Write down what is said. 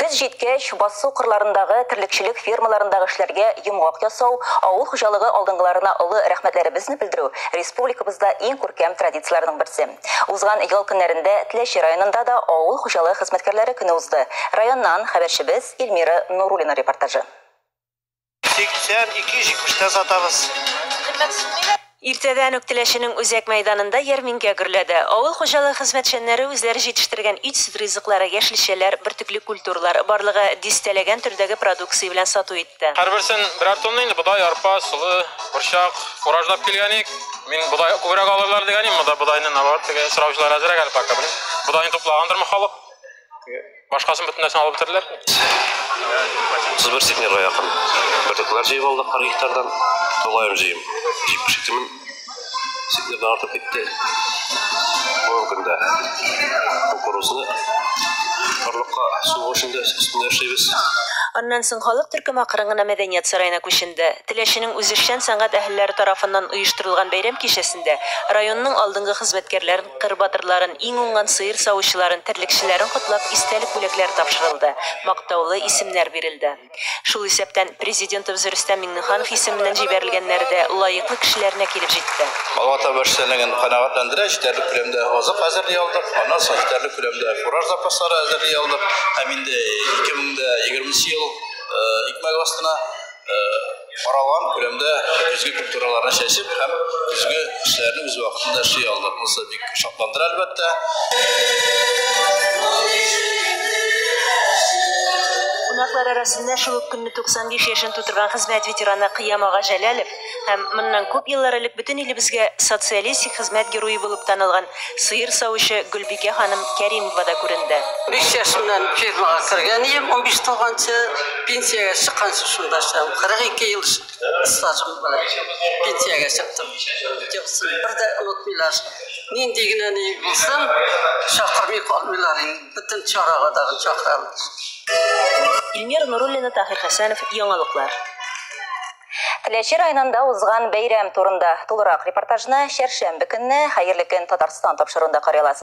Көз җиткәч, басу кырларындагы терлекчелек фермаларындагы эшләргә йомгак ясау, авыл хуҗалыгы алдынгыларына олы рәхмәтләребезне белдерү, республикабызда иң күркәм традицияләрнең берсе. Узган ял көннәрендә Теләче районында да авыл хуҗалыгы хезмәткәрләре көне узды. Районнан хәбәрчебез Эльмира Нуруллина репортажы. 80, 270 тә сатабыз. Иртәдән үк Теләченең үзәк мәйданында ярминкә гөрләде. Авыл хуҗалыгы хезмәтчәннәре үзләре җитештерген ит-сөт ризыклары, яшелчәләр, бөртекле культуралар, барлыгы дистәләгән төрдәге продукция белән сату итте. Һәрберсен берәр тонна инде бодай, арпа, солы, борчак, уражлап килгән ик. Мин бодай күбрәк алырлар дигән идем, монда бодайны наоборот теге сораучылар әзрәк әле пока, белмим, бодайны туплагандырмы халык. Башкасын бөтенләсен алып бетерделәр. Сыз бер сетнерга якын. Бөртекләр җыеп алдык 40 гектардан. Тулаем җыем. Җип пешектемен. Сетнердан артып китте. Бүгенге көндә кукурузны орлыкка сугу эшендә өстендә эшлибез. Аннан соң халык төркеме акрын гына мәдәният сараена күченде. Теләченең үзешчән сәнгать әһелләре тарафыннан оештырылган бәйрәм кичәсендә районның алдынгы хезмәткәрләрен Кыр батырларын, иң уңган сыер савучыларын, терлекчеләрен котлап, истәлек бүләкләре тапшырылды, мактаулы исемнәр бирелде. Шул исәптән, Президентыбыз Рөстәм Миңнеханов исеменнән җибәрелгәннәре дә лаеклы кешеләренә килеп җитте. Алга таба эшчәнлеген канәгатьләндерә, җитәрлек күләмдә азык әзерли алдык, аннан соң җитәрлек күләмдә фураж запаслары әзерли алдык һәм инде 2020 ел икмәге астына, Каралган күләмдә көзге культураларны чәчеп һәм көзге эшләрне үз вакытында эшли алдык. Монысы бик шатландыра, әлбәттә. Кунаклар арасында шул ук көнне 95 яшен тутырган хезмәт ветераны Кыям ага Җәләлов һәм моннан күп еллар элек бөтен илебезгә социалистик хезмәт герое булып танылган Сыер савучы Гөлбикә ханым Кәримова да күренде. Биш яшемнән фермага кергән ием, унбиш тулганчы пенсиягә чыкканчы шунда эшләдем. Кырык ике ел стажым белән пенсиягә чыктым. Җылысын бер дә онытмыйлар. Нинди генә ни булсын, чакырмый калмыйлар инде. Бөтен чарага тагын чакыралар. Ильмира Нуруллина, Таһир Хәсәнов, Яңалыклар. Теләче районында узган бәйрәм турында тулырак репортажны чәршәмбе көнне Хәерле көн, Татарстан тапшыруында карый аласыз.